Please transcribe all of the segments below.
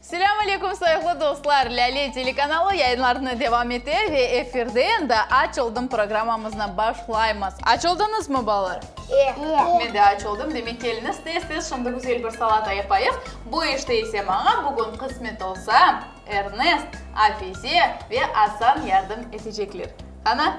Selâm aleyküm sayıqlı dostlar! Lâle telekanalı yayınlarını devam ete ve efirde endi Aç oldım programmamıznı başlaymız. Aç oldıñızmı, balalar? E! Men de aç oldım. Demek, keliñiz, tez-tez şimdi güzel bir salata yapayıq. Bu işte ise maña bugün qısmet olsa, Ernest, Afize ve Asan yardım etecekler. Qana,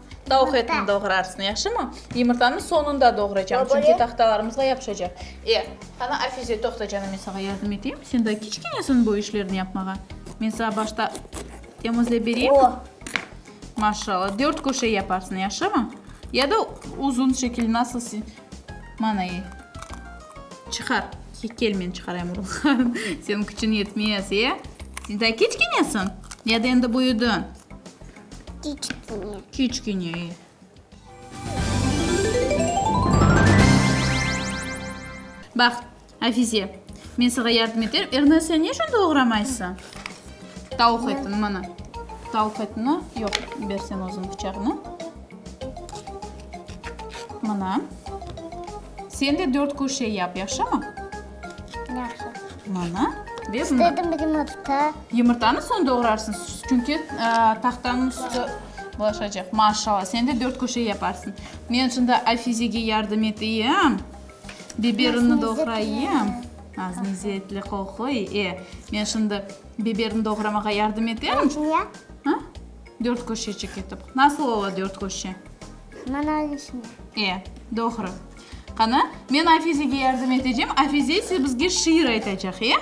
Tavuq etini doğrarsın, yahşımı? Yımırtanı soñunda doğraycam, çünki tahtalarımızğa yapışacaq. E, qana, Afize, toqta canım, men saña yardım eteyim. Sen daa kiçkenesin bu işlerni yapmağa. Men saña başta temizlep bereyim. Maşallah, dört köşe yaparsın, yahşımı? Ya da uzun şekil, nasıl sen... Mana, e. Çıqar. Kel, men çıqarayım urğularını. Seniñ küçüñ yetmez, e? Sen daa kiçkenesin. Ya da endi büyüdiñ. Kiçkine. Kiçkine, e. Baq, Afize, men sağa yardım eterim. Erna, sen ne içün doğramaysıñ? Tavuq etini, mana. Tavuq etini, yoq, ber sen özüñ bıçaqnı. Mana. Sen de dört köşe yap, yahşımı? Yahşı. Mana. Ve bundan. İstedim bir yumurta. Yumurtanı soñ doğrarsıñ, çünki tahtanıñ üstü bulaşacaq. Maşallah, sen de dört köşe yaparsıñ. Men şimdi Afizege yardım eteyim. Biberini doğrayım. Az mezzetli qol qoy. E, men şimdi biberini doğramağa yardım eterim. Niye? Ha? Dört köşecik etip. Nasıl ola dört köşe? Manal içinde. E, doğru. Qani, men Afizege yardım etecem, Afize ise bizge şiir aytacaq, e?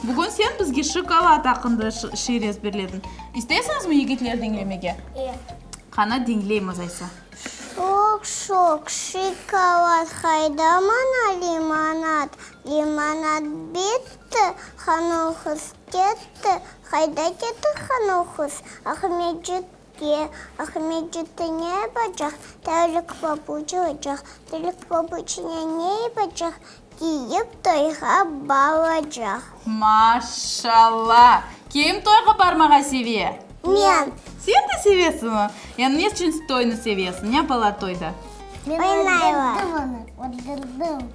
Bugün sen bizge şokolad aqqında şiir ezberledin. İsteysiñizmi, yigitler, diñlemege? E. Qani, diñleymiz aysa. Şoq-şoq şokolad, hayda maña limonad. Limonad bitti, Hanuhıs ketti, hayda ketti Hanuhıs. Ahmetciğim. Ki, Ahmet Cüttü ne yapacaq? Tevlik pabuç alacaq. Tevlik pabuçine ne yapacaq? Kiyip, toyğa baracaq. Maşalla! Kim toyğa barmağa seve? Men. Sen de sevesiñmi? Yani ne içün toynı sevesiñ? Ne yapalar toyda? Oynaylar. Men öldürdim onı, öldürdim.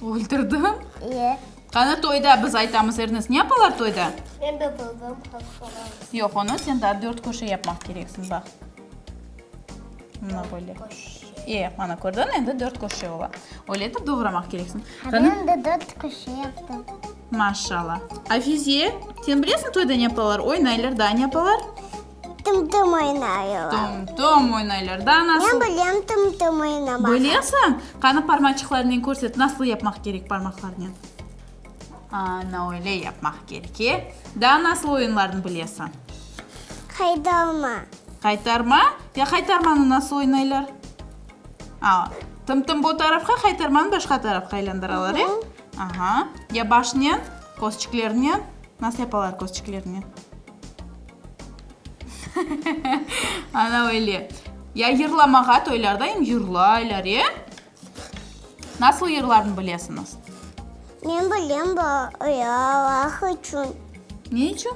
Öldürdin? İyi. Qani toyda biz aytamız, erniz ne yapalar toyda? Men de bildim, qız soradı. Yoq, onı sen daa dört köşe yapmaq kereksiñ, baq. Mına böyle. E, mana kördiñ, endi dört köşe ola. Öyle etip doğramaq kereksiñ. Qani. Men de dört köşe yaptım. Maşallah. Afize, sen bilesiñ toyda ne yapalar? Oynaylar, daa ne yapalar? Tım-tım oynaylar. Tım-tım oynaylar da, nasıl? Men bilem tım-tım oynamağa. Bilesiñ? Qanı parmaçıqlarınen körset, nasıl yapmaq kerek parmaqlarınen? Ana, öyle yapmaq kerek, e? Daa nasıl oyunlarnı bilesiñ? Qaytarma. Qaytarma? Ya qaytarmanı nasıl oynaylar? A, tım-tım bu tarafqa, qaytarmanı başqa tarafqa aylandıralar, e? Aha. Ya başnen, közçiklerinen? Nasıl yapalar közçiklerinen? Ana öyle. Ya yırlamağa toylarda em yırlaylar, e? Nasıl yırlarını bilesiñiz? Men bilem, bayraq içün. Ne içün?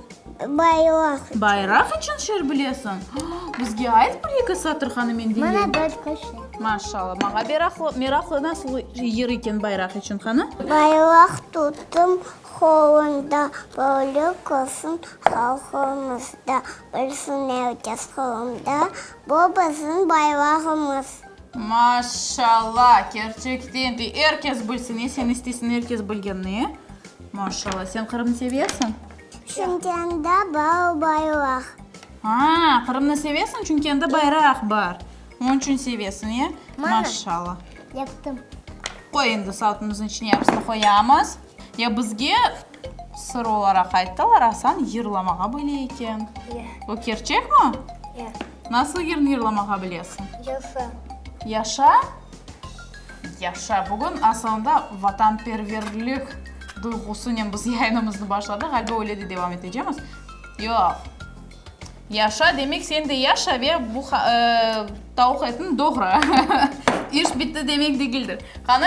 Bayraq içün. Bayraq içün şiir bilesiñ? Bizge ayt bir eki satır, qanı, men diñleyim. Mana başqa şiir. Maşallah. Maña meraqlı, nasıl yır eken bayraq içün, qanı? Bayraq tuttum, Qolunda bölük olsun halqımız da, Bilsin erkes qolunda bu bizim bayrağımız. Maşşalla, kerçekten de erkes bilsin, e, sen isteysiñ erkes bilgenni, e? Maşşalla, sen Qırımnı sevesiñ? Çünkende bar bayraq. Aa, Qırımnı sevesiñ, çünkende bayraq bar, onıñ içün sevesiñ, e? Maşşalla. Yaptım. Qoy endi, saltımıznıñ içine yarısını qoyamız. Ya bizge sır olaraq ayttılar, Asan yırlamağa bile eken. Ya. Bu kerçekmi? Ya. Nasıl yırnı yırlamağa bilesiñ? Yaşa. Yaşa? Yaşa. Bugün Asanda vatanperverlik duyğusınen biz yayınımıznı başladıq. Ğaliba öyle de devam etecemiz. Yoq. Yaşa, demek sen de yaşa ve bu tauq etini doğra. İş bitti demek degildir. Qani.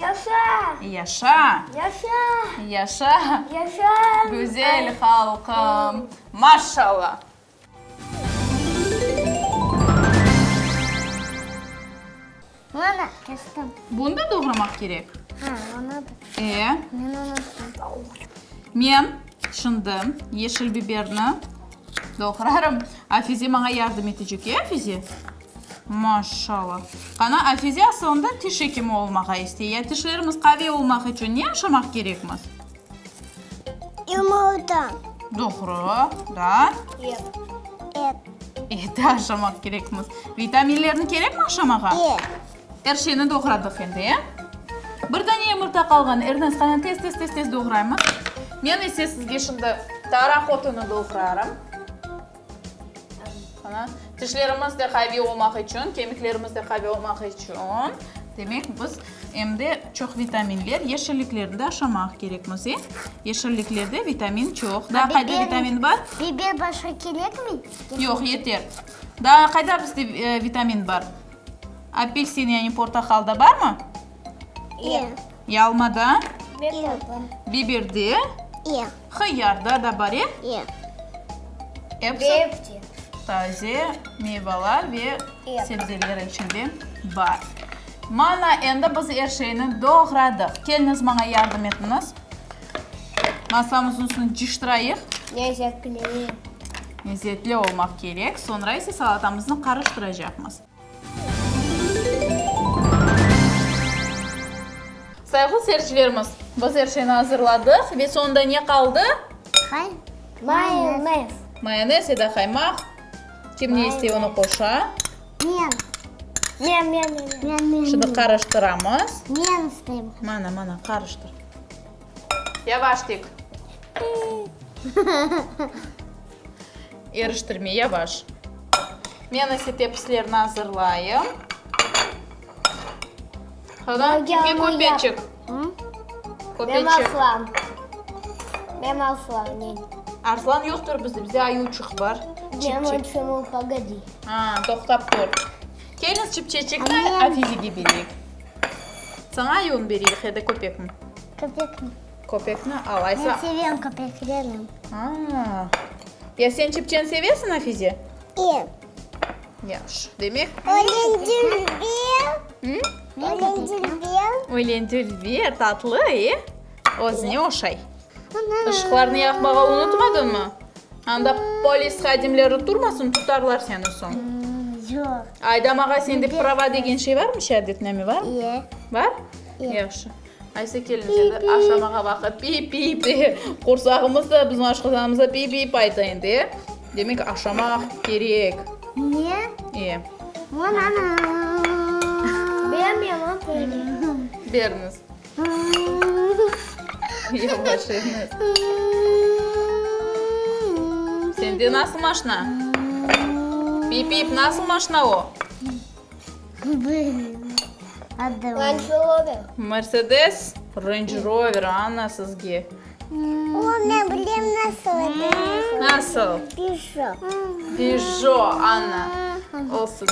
Yaşa! Yaşa! Yaşa! Yaşa! Yaşa! Güzel halqım! Maşallah! Mama, kestim. Bunı da doğramaq kerek? Ha, onı da. E? Men unuttum. Men şimdi yeşil biberni doğrarım. Afize maña yardım etecek, e, Afize? Maşşala. Qana, Afize asılında tiş ekimi olmağa istey. Ya tişlerimiz qaviy olmaq içün ne yaşamaq kerekmiz? Yumurta. Doğru. Daa? Et. Et. Et yaşamaq kerekmiz. Vitaminlerni kerekmi aşamağa? E. Er şeyni doğradıq endi, e? Bir dane yumurta qalğan. Ernest, qana, tez, tez, tez, tez doğraymız. Men ise sizge şimdi taraq otunu doğrarım. Mana, tişlerimiz de qaviy olmaq içün, kemiklerimiz de qaviy olmaq içün, demek, biz em de çoq vitaminler, yeşilliklerni de aşamaq kerek, Müzey. Yeşilliklerde vitamin çoq. Daa qayda vitamin bar? Biber başqa kerekmi? Yoq, yeter. Daa qayda bizde vitamin bar? Apelsin, yani portaqalda barmı? Yalmada? Biberde? Hıyarda da bar, e? Hepsi taze meyvalar ve sebzeler içinde bar. Mana, endi biz er şeyni doğradıq. Keliñiz, maña yardım etiñiz. Masamızın üstünü cıştırayıq. Lezetli olmaq kerek. Soñra ise salatamıznı qarıştıracaqmız. Sayğlı seyircilerimiz, biz er şeyni azırladıq ve soñunda ne qaldı? Hay, mayonez. Mayonez ya da qaymaq. Kim ne istey, onı qoşa. Men. Men, men, men, men. Men, men, men. Şimdi qarıştıramız. Men isteyim. Mana, mana, qarıştır. Yavaş tik. Eriştirme yavaş. Men ise tepislerni azırlayım. Hana, kime köpeçik? Köpeçik. Ben Arslan. Ben Arslan, nen. Arslan yoqtur bizde, bizde ayuçıq bar. Ben uçumu, pogodi. Ha, toqtap tur. Keliñiz, çipçeçikni Afizege bereyik. Saña ayuını bereyik ya da köpekni? Köpekni. Köpekni al, Aysa. Men sevem köpeklerni. Aa. Ya sen çepçen sevesiñ, Nafize? Ev. Yahşı. Demek. Ölendülber. Hı? Ölendülber. Ölendülber, tatlı, e? Özüne oşay. Ana. Işıqlarnı yaqmağa unutmadıñmı? Anda polis hadimleri turmasın, tutarlar seni soñ. Yoq. Aydamağa sende prava degen şey barmı, şeadetname barmı? Ye. Bar? Ye. Yahşı. Qaysı kelin seni aşlamağa vaqıt pi-pi de, qorsağımız da bizim aşqazanımızda pi-pi payta endi. Demek, aşlamaq kerek. Ne? E. Banana. Bermeyman böyle. Beriniz. Yavaşlayınız. Sende nasıl maşna? Pip-pip, nasıl maşna o? Mersedes Range Rover Anna sizge. Nasıl? Peugeot Anna olsun.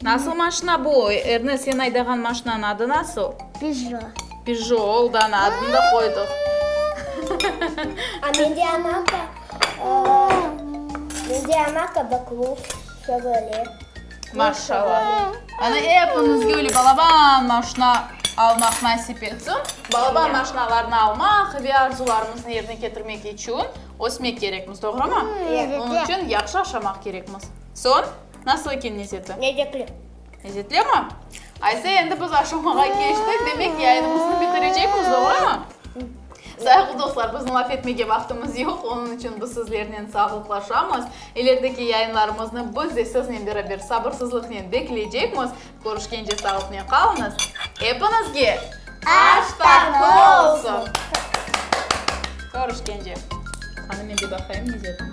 Nasıl maşina bu? Ernest sen aydağan maşinanın adı nasıl? Peugeot oldu Anna adını da qoydıq. Mende ama qabaklus, şevale. Maşallah. Ana epinizge öyle balaban maşna almaq nasip etsin. Balaban maşnalarnı almaq ve arzularımıznı yerine ketirmek içün ösmek kerekmiz, doğrumı? Onıñ içün yahşı aşamaq kerekmiz. Soñ, nasıl eken nezeti? Lezzetli. Lezzetlimi? Ayse, endi biz aşamağa keçtik, demek, yayınımıznı bitirecekmiz, doğrumı? Sayıqlı dostlar, bizim laf etmege vaqtımız yoq, onıñ içün biz sizlernen sağlıqlaşamız. İlerideki yayınlarımıznı biz de siznen beraber sabırsızlıqnen bekleycekmiz. Körüşkence sağlıqnen qalıñız. Epiñizge aş tatlı olsun! Körüşkence. Qani, men de baqayım, ne diyatım.